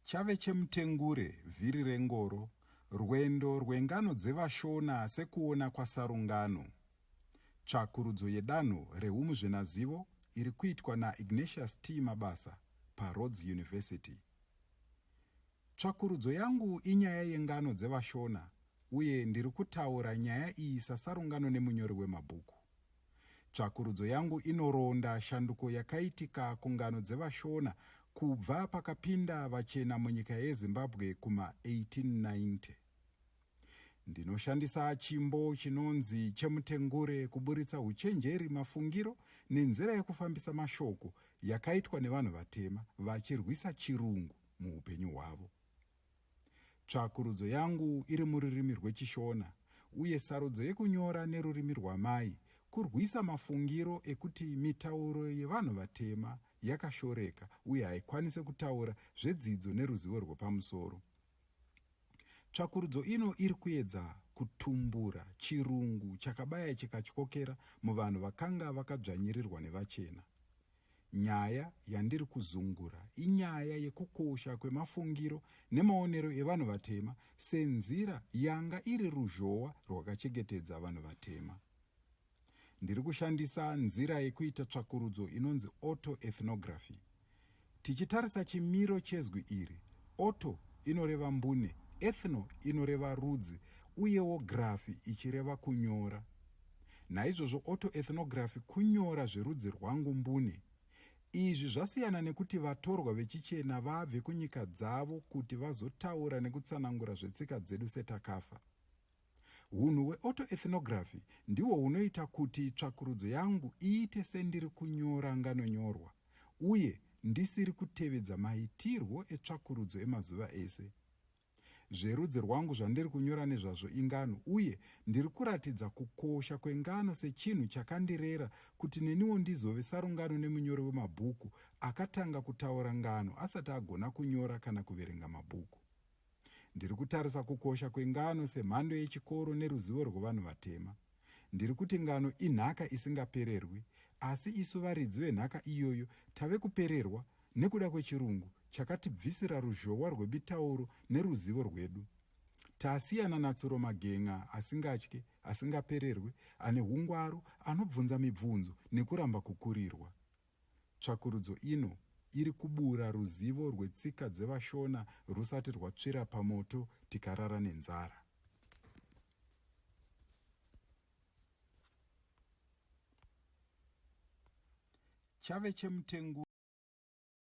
Chave chemutengure, vhiri rengoro, rwendo rwengano dzevaShona sekuona kwaSarungano. Tsvakurudzo yedanho rehumuzvenazivo iri kuitwa naIgnatius T. Mabasa paRhodes University. Tsvakurudzo yangu inyaya yengano dzevaShona uye ndiri kutaura nyaya iyi sasarungano nemunyori wemabhuku. Tsvakurudzo yangu inoronda shanduko yakaitika kungano dzevaShona kubva pakapinda vachena munyika yeZimbabwe kuma 1890. Ndinoshandisa chimbo chinonzi chemutengure kuburitsa uchenjeri, mafungiro nenzira yekufambisa mashoko yakaitwa nevanhu vatema vachirwisa chirungu muupenyu hwavo. Tsvakurudzo yangu iri mururimi rweChiShona uye sarudzo yekunyora nerurimi rwamai kurwisa mafungiro ekuti mitauro yevanhu vatema yakashoreka uye haikwanise kutaura zvedzidzo neruzivo rwepamusoro. Tsvakurudzo ino iri kuedza kutumbura chirungu chakabaya chikatyokera muvanhu vakanga vakadzvanyirirwa nevachena. Nyaya yandiri kuzungura inyaya yekukosha kwemafungiro nemaonero evanhu vatema senzira yanga iri ruzhowa rwakachengetedza vanhu vatema. Ndiri kushandisa nzira yekuita tsvakurudzo inonzi autoethnography. Tichitarisa chimiro chezwi iri, auto inoreva mbune, ethno inoreva rudzi, uyewo graphy ichireva kunyora. Naizvozvo autoethnography kunyora zverudzi rwangu mbune. Izvi zvasiyana nekuti vatorwa vechichena vabve kunyika dzavo kuti vazotaura nekutsanangura zvetsika dzedu setakafa. Hunhu hweautoethnography ndihwo hunoita kuti tsvakurudzo yangu iite sendiri kunyora nganonyorwa uye ndisiri kutevedza maitirwo etsvakurudzo emazuva ese. Zverudzi rwangu zvandiri kunyora nezvazvo ingano, uye ndiri kuratidza kukosha kwengano sechinhu chakandirera kuti neniwo ndizove sarungano nemunyori wemabhuku akatanga kutaura ngano asati agona kunyora kana kuverenga mabhuku. Ndiri kutarisa kukosha kwengano semhando yechikoro neruzivo rwevanhu vatema. Ndiri kuti ngano inhaka isingapererwi, asi isu varidzi venhaka iyoyo tave kupererwa nekuda kwechirungu chakatibvisira ruzhowa rwebitauro neruzivo rwedu. Tasiyana natsuro magen'a asingatye, asingapererwe, ane hungwaru, anobvunza mibvunzo nekuramba kukurirwa. Tsvakurudzo ino iri kubura ruzivo rwetsika dzevaShona rusati rwatsvira pamoto tikarara nenzara. chave chemutenguro.